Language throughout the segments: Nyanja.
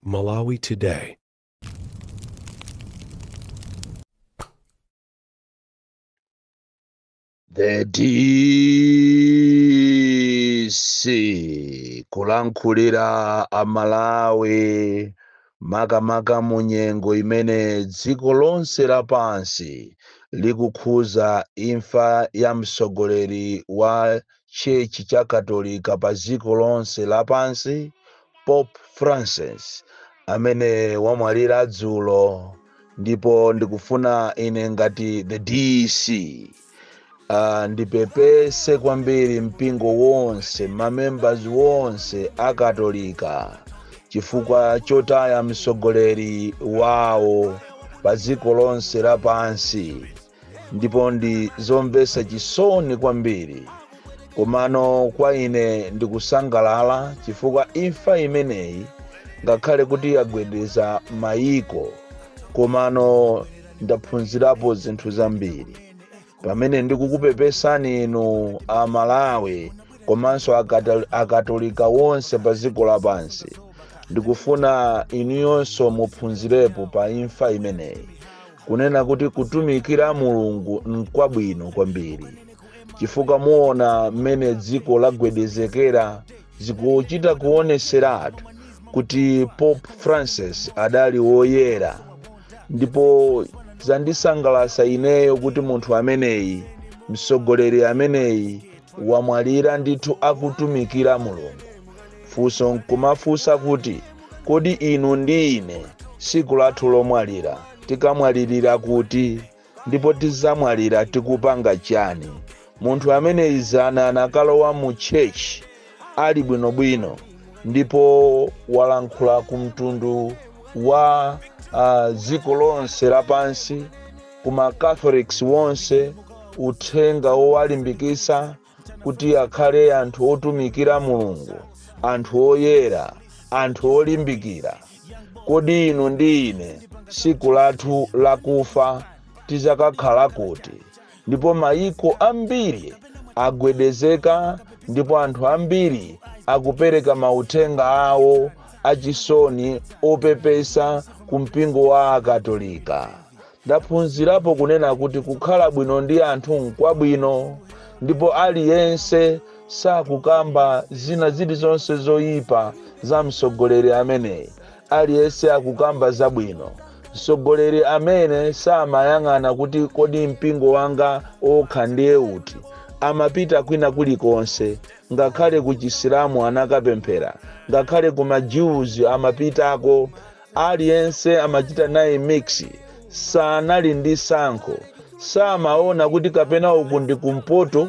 Malawi Today. The DC kulankhulira Amalawi makamaka mu nyengo imene dziko lonse lapansi likukhuza imfa ya mtsogoleri wa Church cha Katolika pa dziko lonse lapansi Pope Francis amene wamwalira dzulo ndipo ndikufuna ine ngati the DC Ah, ndipepese kwambiri mpingo wonse mamembers wonse akatolika chifukwa chotaya mtsogoleri wawo pa dziko lonse lapansi ndipo ndi zomvetsa chisoni kwambiri komano kwa ine ndikusangalala chifukwa imfa imeneyi ngakhale kuti yagwedeza mayiko komano ndaphunzirapo zinthu zambiri pamene ndikukupepesani inu Amalawi komanso akata- akatolika wonse pa dziko lapansi ndikufuna inuyonso muphunzirepo pa imfa imeneyi kunena kuti kutumikira mulungu nkwabwino kwambiri chifukwa muona mmene dziko lagwedezekera zikuchita kuoneseratu kuti pope francis adali woyera ndipo zandisangalasa ineyo kuti munthu ameneyi mtsogoleri ameneyi wamwalira ndithu akutumikira mulungu funso nkumafunsa kuti kodi inu ndi ine siku lathu lomwalira tikamwalirira kuti ndipo tizamwalira tikupanga chani munthu ameneyi zana anakalowa mu church ali bwinobwino ndipo walankhula ku mtundu wa uh, dziko lonse lapansi ku ma Catholics wonse uthenga wowalimbikisa kuti akhale anthu otumikira mulungu anthu oyera anthu olimbikira kodi inu ndi ine tsiku lathu lakufa tizakakhala kuti ndipo mayiko ambiri agwedezeka ndipo anthu ambiri akupereka mauthenga awo achisoni opepesa ku mpingo wa akatolika Ndaphunzirapo kunena kuti kukhala bwino ndi anthu nkwabwino, ndipo aliyense sakukamba zina zilizonse zoyipa za mtsogoleri ameneyi. Aliyense akukamba zabwino. Mtsogoleri amene samayang'ana kuti kodi mpingo wanga wokha ndiye uti, amapita kwina kulikonse, ngakhale ku Chisilamu anakapemphera, ngakhale ku ma Jews amapitako, Aliyense amachita naye mix, sanali ndi sankho, samaona kuti kapena uku ndi kumpoto,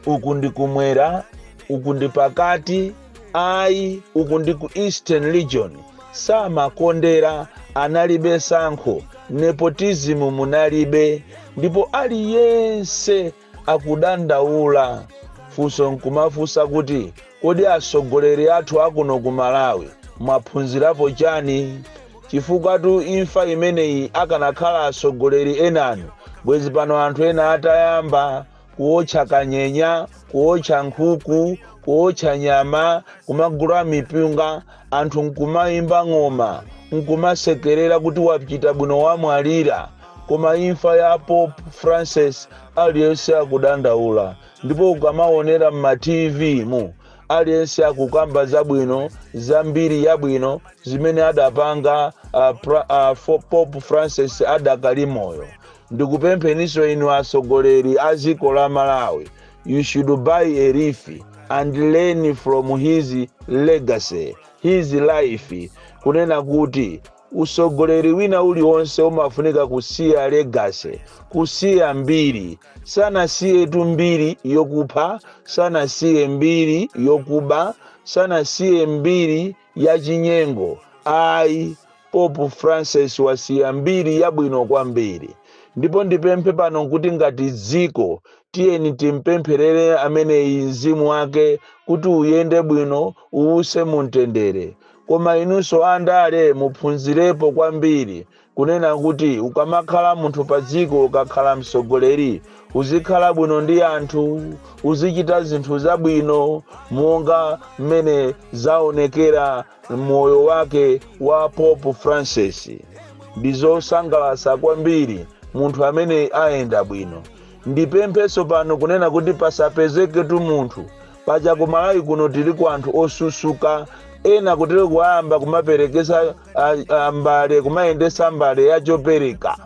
uku ndi kumwera, uku ndi pakati, ayi uku ndi ku eastern region, samakondera, analibe sankho, nepotism munalibe, ndipo aliyense akudandaula funso nkumafunsa kuti kodi atsogoleri athu akuno ku malawi mwaphunzirapo chani chifukwa tu imfa imeneyi akanakhala atsogoleri enanu bwezi pano anthu ena atayamba kuotcha kanyenya kuotcha nkhuku kuotcha nyama kumagula mipunga anthu nkumaimba ng'oma nkumasekerera kuti wachita bwino wamwalira koma imfa ya pope francis aliyense akudandaula ndipo ukamaonera mma tv mu aliyense akukamba zabwino za mbiri yabwino zimene adapanga uh, pra, uh, fo- pope francis adakali moyo ndikupempheniso inu atsogoleri a dziko la malawi you should buy a leaf and learn from his legacy his life kunena kuti usogoleri wina uliwonse umafunika kusiya legacy kusiya mbiri sanasiyetu mbiri yokupha sanasiye mbiri yokuba sanasiye mbiri Yachinyengo ayi! Pope Francis wasiya mbiri yabwino kwambiri. Ndipo ndipemphe pano kuti ngati dziko tiyeni timpempherere ameneyi mzimu wake kuti uyende bwino, uwuse mu mtendere. Koma inunso andale muphunzirepo kwambiri kunena kuti ukamakhala munthu pa dziko ukakhala mtsogoleri uzikhala bwino ndi anthu uzichita zinthu zabwino monga mmene zaonekera moyo wake wa pope francis ndi zosangalatsa kwambiri munthu amene ayenda bwino ndipempheso pano kunena kuti pasapezeketu munthu paja ku malawi kuno tiliko anthu osusuka ena kutero kuwayamba kumaperekesa ah, ah, mbale kumayendesa mbale ya chopereka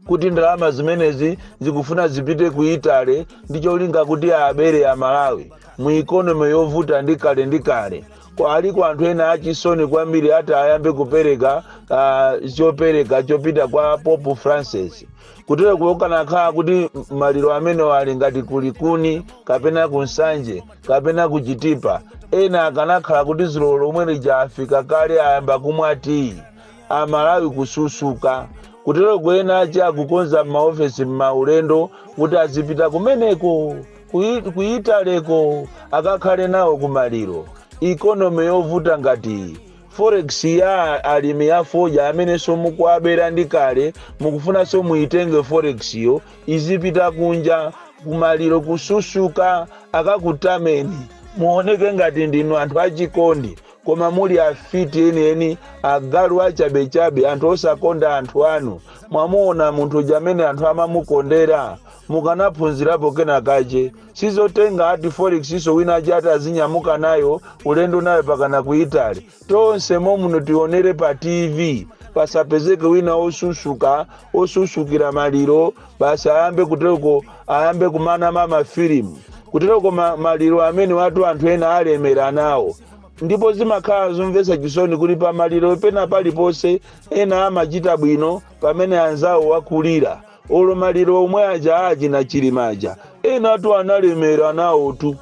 kuti ndalama zimenezi zikufuna zipite ku italy ndi cholinga kuti abere amalawi mu ikonomi yovuta ndi kale ndi kale Kwa- aliko anthu ena achisoni kwambiri ata ayambe kupereka ah, chopereka chopita kwa pope francis kutereku akanakhala kuti maliro amenewo ali ngati ku likuni kapena ku nsanje kapena ku chitipa ena akanakhala kuti dzulo lomwe lija afika kale ayamba kumwa tiyi amalawi kususuka kutereku ena achi akukonza m'maofesi m'maulendo kuti azipita kumeneko kuyi- ku italyko akakhale nawo kumaliro ikonomi yovuta ngati iyi Forex ya alimi a fodya amenenso mukuwabera ndi kale mukufunanso muitenge forexyo izipita kunja kumaliro kususuka akakutameni muoneke ngati ndinu anthu achikondi koma muli afiti enieni agalu achabechabe anthu osakonda anthu anu mwamuona munthu uja amene anthu amamukondera mukanaphunzirapo kena kache sizotenga ati forexnso wina ache ati azinyamuka nayo ulendo nayo pakana ku italy tonse momuno tionere pa tv pasapezeke wina osusuka osusukira maliro basi ayambe kutereko ayambe kumana ndi mafilimu kutereko ma, maliro amenewatu anthu ena alemera nawo ndipo zimakhala zomvetsa chisoni kuti pamaliro pena paliponse ena amachita bwino pamene anzawo akulira olo maliro omwe aja achina chilima aja enatu analemera nawotu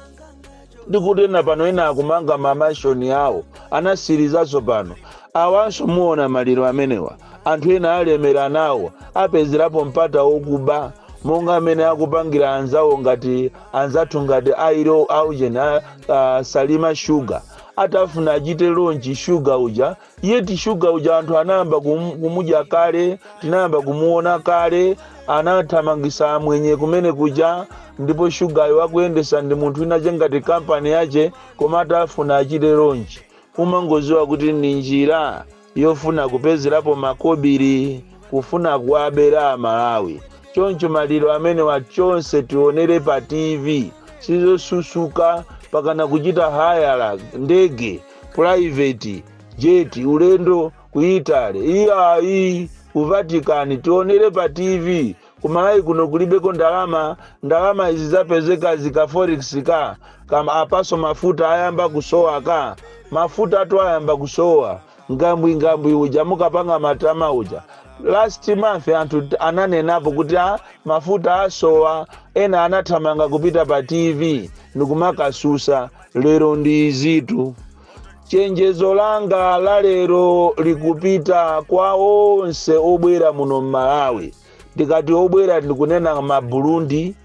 ndikuti ena pano ena akumanga mamashoni awo anasirizaso pano awanso muona maliro amenewa anthu ena alemera nawo apezerapo mpata wokuba monga amene akupangira anzawo ngati anzathu ngati awa ku, a, a, salima shuga atafuna achite lonchi shuga uja Yet sugar uja anthu anayamba kum, kumudya kale, tinayamba kumuona kale, anathamangisa amwenye kumene kuja, ndipo shugayo akuyendesa ndi munthu wina wache ngati kampani yache, koma atafuna achite lonchi, umangoziwa kuti ndi njira yofuna kupezerapo makobiri, kufuna kuwabera Amalawi. Choncho maliro amenewa tonse tionere pa TV, sizosusuka pakana kuchita hayala ndege private jet ulendo ku italy iyayi ku vatican tionere pa tv kumalawi kuno kulibeko ndalama ndalama izi zapezeka zika forex ka apaso mafuta ayamba kusowa ka mafutatu ayamba kusowa ngambwingambwi uja amapanga matama uja last month anthu ananenapo kuti mafuta asowa ena anathamanga kupita pa tv ndikumakasusa lero ndi izitu chenjezo langa la lero likupita kwa onse obwera muno m'malawi ndikati obwera ndikunena maburundi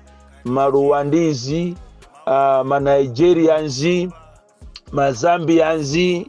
maruwandizi uh, manigeriazi mazambianzi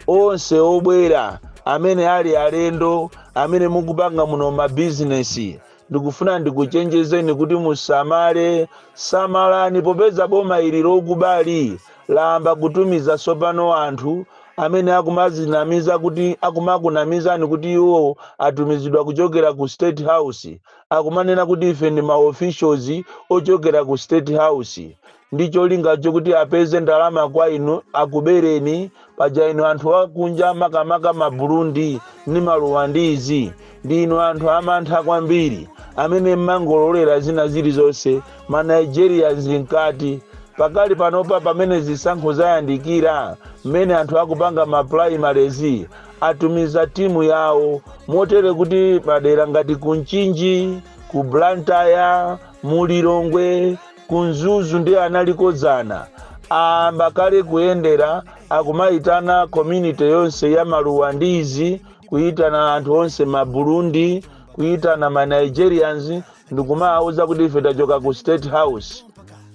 onse obwera amene ali alendo amene mukupanga muno mabizinesi Ndikufuna ndikuchenjezeni kuti musamale, samalani popeza boma ili lokubali layamba kutumiza tsopano anthu amene akumadzinamiza kuti akumakunamizani kuti iwo atumizidwa kuchokera ku state house akumanena kuti ife ndi ma officials ochokera ku state house ndi cholinga chokuti apeze ndalama kwa inu akubereni paja inu anthu akunja makamaka ma burundi ndi maruwandizi ndi inu anthu amantha kwambiri amene mmangololera zina zilizonse ma nigerians mkati pakali panopa pamene zisankho zayandikira mmene anthu akupanga ma primaries atumiza timu yawo motere kuti madera ngati ku mchinji ku blantyre mulilongwe ku mzuzu ndiye analiko dzana aamba kale kuyendera akumaitana community yonse ya maruwandizi kuitana anthu onse ma burundi kuitana ma nigerians ndikumawauza kuti ife tachoka ku state house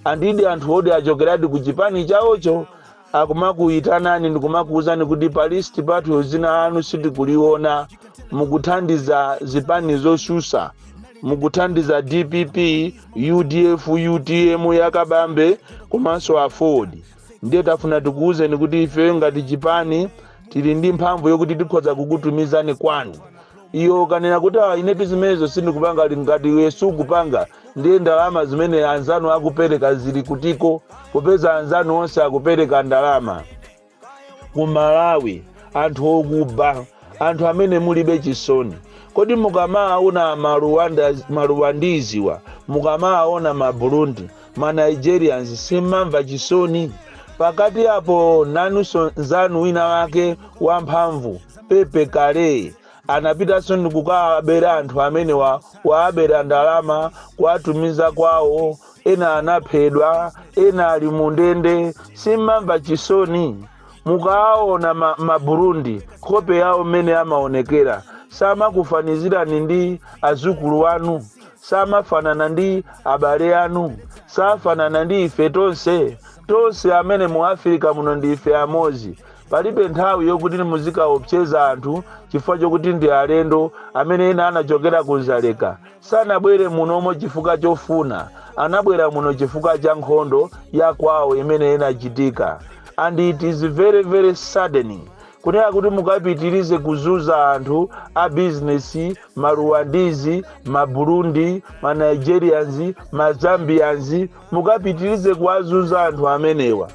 and ndi anthu odi achokeradi ku chipani chawocho akumakuyitanani ndikumakuwuzani kuti pa list pathu dzina lanu sitikuliona mukuthandiza zipani zosusa mukuthandiza dpp udf utm ya kabambe komanso aford ndiye tafuna tikuwuzeni kuti ifeyo ngati chipani tili ndi mphamvu yokuti tikhoza kukutumizani kwanu Iwe ukanena kuti ah inetu zimenezo sindikupanga ali ngati iwe sukupanga ndiye ndalama zimene anzanu akupereka zili kutiko popeza anzanu onse akupereka ndalama. Ku Malawi anthu okuba, anthu amene mulibe chisoni. Kodi mukamaawona ma Rwandiziwa, mukamaawona ma Burundi, ma nigerians simmamva chisoni pakati apo nanuso nzanu wina wake wamphamvu pepe kale anapitanso ndikukawabera anthu amenewa kuwabera ndalama kuwatumiza kwawo ena anaphedwa ena ali mu ndende simmamva chisoni mukaona ma, ma burundi nkhope yawo mmene amaonekera samakufanizirani ndi azukulu wanu samafanana ndi abale anu safanana ndi ife tonse tonse amene mu afirika muno ndi ife amodzi palibe nthawi yokuti muzikaopseza anthu chifukwa chokuti ndi alendo amene ena anachokera ku nzaleka sanabwere munomo chifukwa chofuna anabwera muno chifukwa cha nkhondo ya kwawo imene inachitika and it is very very saddening kunena kuti mukapitirize kuzuza anthu a bizinesi ma Rwandese, ma Burundi, ma Nigerians, ma Zambians mukapitirize kuwazunza anthu amenewa.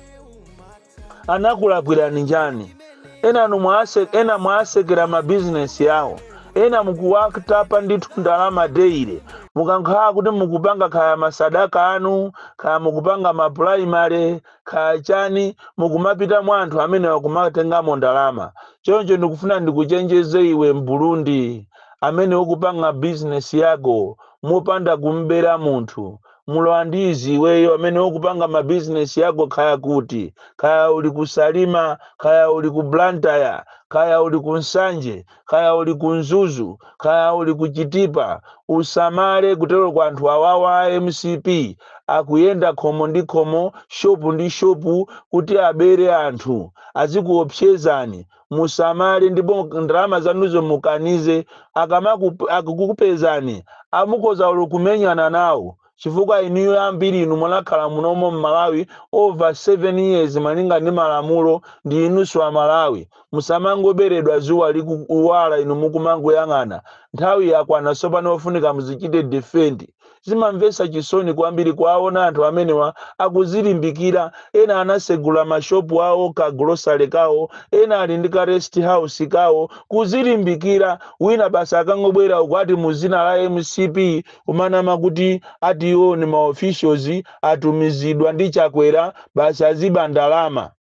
Anakulakwirani njani? Enanu mwase, ena mwasekera ma business awo. Ena mukuwatapa ndithu ndalama daily. Mukankhala kuti mukupanga kaya masadaka anu, kaya mukupanga ma primary, kaya chani mukumapita mwa anthu amenewa kumatengamo ndalama choncho ndikufuna ndikuchenjeze iwe m'burundi amene ukupanga bizinesi yako mopanda kum'bera munthu mulowa ndi izi iweyo amene ukupanga mabizinesi yako kaya kuti kaya uli ku salima kaya uli ku blantyre kaya uli ku nsanje kaya uli ku mzuzu kaya uli ku chitipa usamale kutero kwa anthu awawa a mcp akuyenda khomo ndi khomo shopu ndi shopu kuti abere anthu azikuopsezani musamale ndipo ndalama zanuzo mukanize akamaku- akukupezani mukhoza olo kumenyana nawo chifukwa inuyo ambiri inu munakhala munomo mmalawi over 7 years malinga ndi malamulo ndinunso amalawi musamangoberedwa zuwa likuwala inu mukumangoyang'ana nthawi yakwana sopano ofunika muzizichita defend zimamvesa chisoni kwambiri kuwaona anthu amenewa akuzilimbikira ena anasegula mashopu awo ka grocery kawo ena ali ndi ka rest house kawo kuzilimbikira wina basi akangobwera uku ati muzina la mcp kumanama kuti ati iwo ni ma officials atumizidwa ndi Chakwera basi aziba ndalama.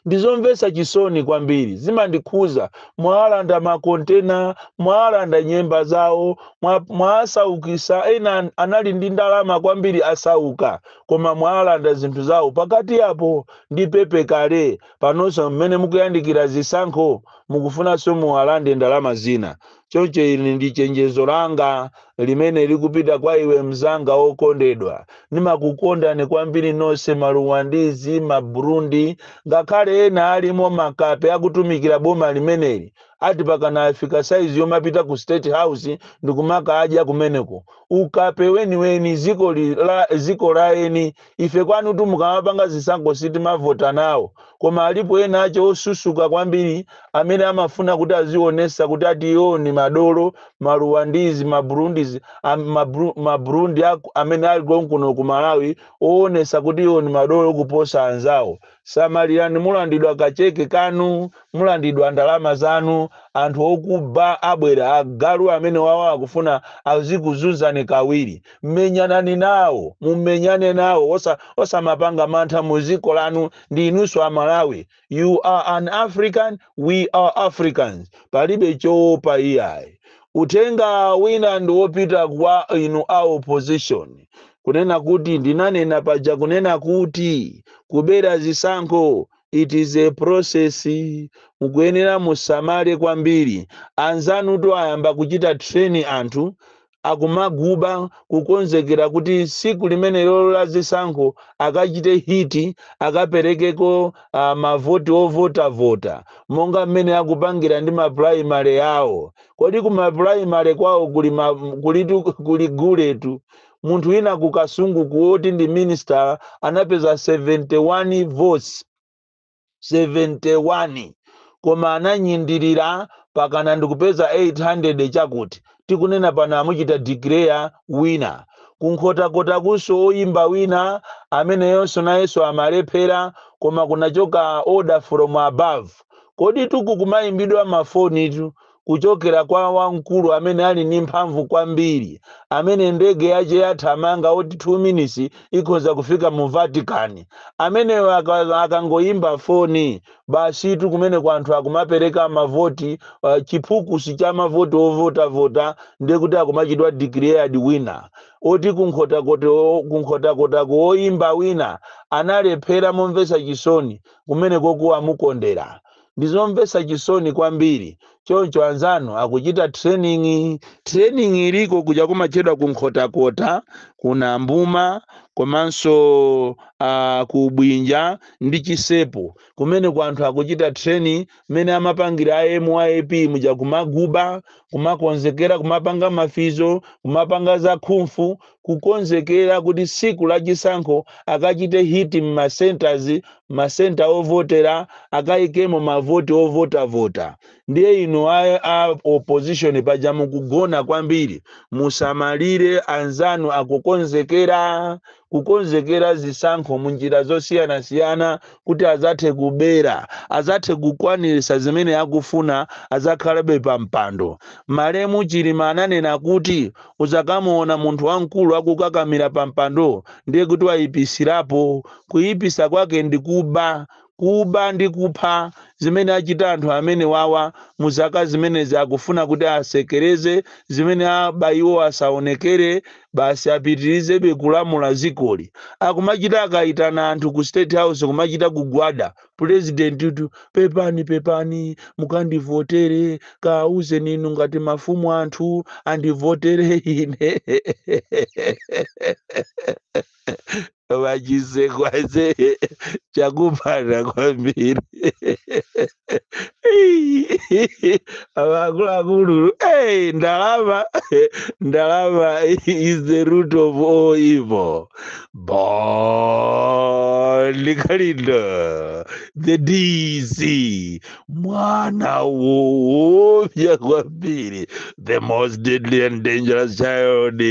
Ndizomvesa chisoni kwambiri, zimandikhuza, mwawalanda ma container, mwawalanda nyemba zawo, mwa, mwasaukisa ena an- anali ndi ndalama kwambiri asauka, koma mwawalanda zinthu zawo pakati apo ndi pepe kale, panonso mmene mukuyandikira zisankho mukufunanso muwalande ndalama zina. choncho ili ndi chenjezo langa limene likupita kwa iwe mnzanga wokondedwa ndimakukondani kwambiri nonse maruwandizi maburundi ngakhale ena alimo makape akutumikira boma limeneli ati pakana afika saizi yomapita ku state house ndikumakadya kumeneko ukape weniweni ziko la eni Ife kwanutu mukamapanga zisankho sitimavota nawo koma alipo ena ache osusuka kwambiri amene amafuna kuti azionesa kuti ati iwo ni madolo, ma Rwandese ma Burundis, ma Burundi amene ali konkuno ku Malawi oonesa kuti iwo ni madolo kuposa anzawo. Samalirani mulandidwa ka cheke kanu, mulandidwa ndalama zanu, anthu okuba abwera, agalu amenewawa akufuna azikuzunzani kawiri, mumenyane nawo, mumenyane nawo osamapanga mantha muziko lanu ndi inuso a Malawi, you are an African, we are Africans, palibe choopa iyayi. Uthenga wina ndi wopita kwa inu a opposition kunena kuti ndinanena paja kunena kuti kubera zisankho it is a process mukuyenera musamale kwambiri anzanutu ayamba kuchita train anthu akumaguba kukonzekera kuti siku limenelolo la zisankho akachite hit akaperekeko mavoti ovotavota monga mmene akupangira ndi mapulaimale awo. Kodi ku mapulaimale kwawo kuli guletu? Munthu wina ku Kasungu ku woti ndi minisita anapeza 71 votes 71 koma ananyindirira pakana ndikupeza 800 chakuti. tikunena pano amuchita declare winner. Ku Nkhotakotakunso oyimba wina ameneyonso nayenso amalephera koma kunachoka order from above. Koditu uku kumayimbidwa mafonitu kuchokera kwa wamkulu amene ali ndi mphamvu kwambiri amene ndege yache yathamanga oti 2 minutes ikhoza kufika mu Vatican. Ameneyo akangoyimba foni basitu kumeneko anthu akumapereka mavoti uh, chiphukusi cha mavoti ovotavota ndiye kuti akumachitidwa declared winner oti kunkhotakotako woyimba wina analephera momvetsa chisoni kumeneko kuwamukondera ndizomvetsa chisoni kwambiri choncho anzanu akuchita training training iliko kuja kumatchedwa ku nkhotakota ku nambuma komanso uh, ku bwinja ndi chisepo kumeneko anthu akuchita training mmene amapangira a myp muja kumaguba kumakonzekera kumapanga mafizo kumapanga zakhumfu kukonzekera kuti tsiku la chisankho akachite hit m'ma centers masenta ovotera akaikemo mavoti ovotavota ndiye inu a, a opposition paja mukugona kwambiri musamalire anzanu akukonzekera kukonzekera zisankho munjira zosiyanasiyana kuti azathe kubera azathe kukwanirisa zimene akufuna azakhalabe pa mpando malemu chilima ananena kuti uzakamuona munthu wamkulu akukakamira pa mpando ndiye kuti wayipisirapo Kuipisa kwake ndi kuba, kuba ndi kupha zimene achita anthu amenewawa mu zaka zimenezi akufuna kuti atsekeleze zimene aba iwo asaonekele basi apitilizebe kulamula zikoli akumachita akaitana anthu ku state house kumachita kugwada pulezidenti tu pepani pepani mukandivotele kaawuzeni inu ngati mafumu anthu andivotele ine koma Chisekwaze chakupanda kwambiri akuluakulu hey, ndalama ndalama is the root of all evil Bon Kalindo the dc mwana woopya kwambiri the most deadly and dangerous child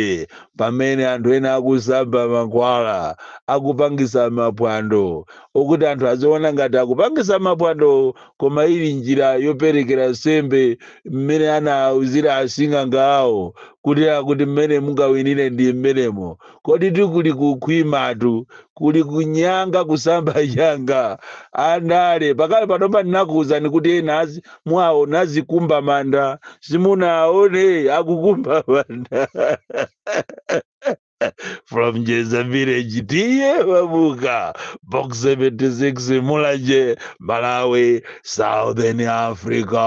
Pamene anthu ena akusamba mankhwala, akupangisa mapwando okuti anthu aziona ngati akupangisa mapwando koma ili njira yoperekera nsembe mmene anauzira asing'anga awo kuti akuti mmene mungawinire ndimmenemo. Koditu kuli kukhwimatu kuli kunyanga kusamba nyanga andale pakali panopa ndinakuwuzani kuti ena azi- muwaona azikumba manda simunaone akukumba manda from jeza village T/A Mabuka box 76 mulanje malawi southern africa